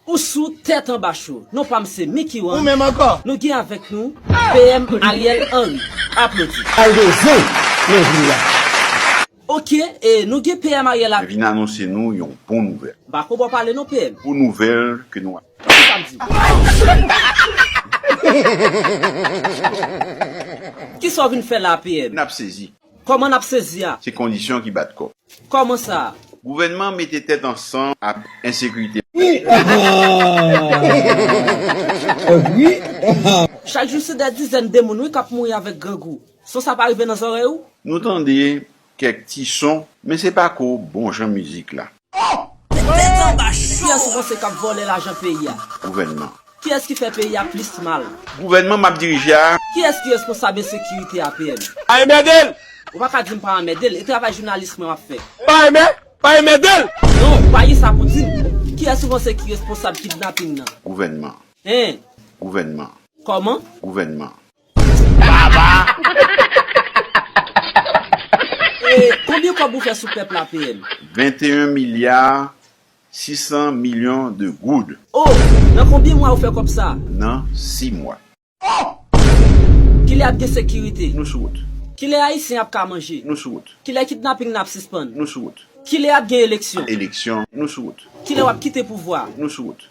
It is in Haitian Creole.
Ou sou tèt anba cho. Non pam se Mickey Wan. Ou menm ankò? Nou gen avèk nou PM Ariel Henry. Aplodi. Kay de zen nan vil la. Ok e nou gen PM Ariel ak. Mwen vin anonse nou yon bon nouvèl. M pa ko ba w pale non PM. Bon nouvèl ke nou. Tande sa m di w. Kisa w vin fè la a PM? N ap sezi. Kòman nap sezi a? Se kondisyon ki bat kò. Kòman sa a? Gouvènman mete tèt ansanm ak ensekirite. Chak jou se dè dizèn de moun wi kap mouri avèk grangou. Son sa pa rive nan zòrèy ou? Nou tande kèk ti son, men se pako bon jan mizik la. Oh! Met tèt lan anba chou! Kiyès ou panse kap vòlè lajan peyi a? Gouvènman. Kiyès ki fè peyi a plis mal? Gouvènman map dirije a. Kiyès ki responsab ensekirite a PM? Pa enmède l! Ou pa ka di m pa anmède l, e travay jounalis mwen map fè. Pa enmè, pa enmède l! Non, ou pa gen sa pou di m. Kiyès ou panse ki responsab kidnaping nan? Gouvènman. Hein? Gouvènman. Kòman? Gouvènman. Baba. E konbyen kob ou fè sou pèp la PM? 21 milliards 600 millions de goud. Oh! Nan konbyen mwa ou fè kob sa? Nan 6 mwa. Oh! Kilè ap gen sekirite? Nou sou wout. Kilè Ayisyen ap ka manje? Nou sou wout. Kilè kidnaping nan ap sispann? Nou sou wout. Kilè ap gen eleksyon? Eleksyon. Nou sou wout. Kilè wap kite pouvwa? Nou sou wout.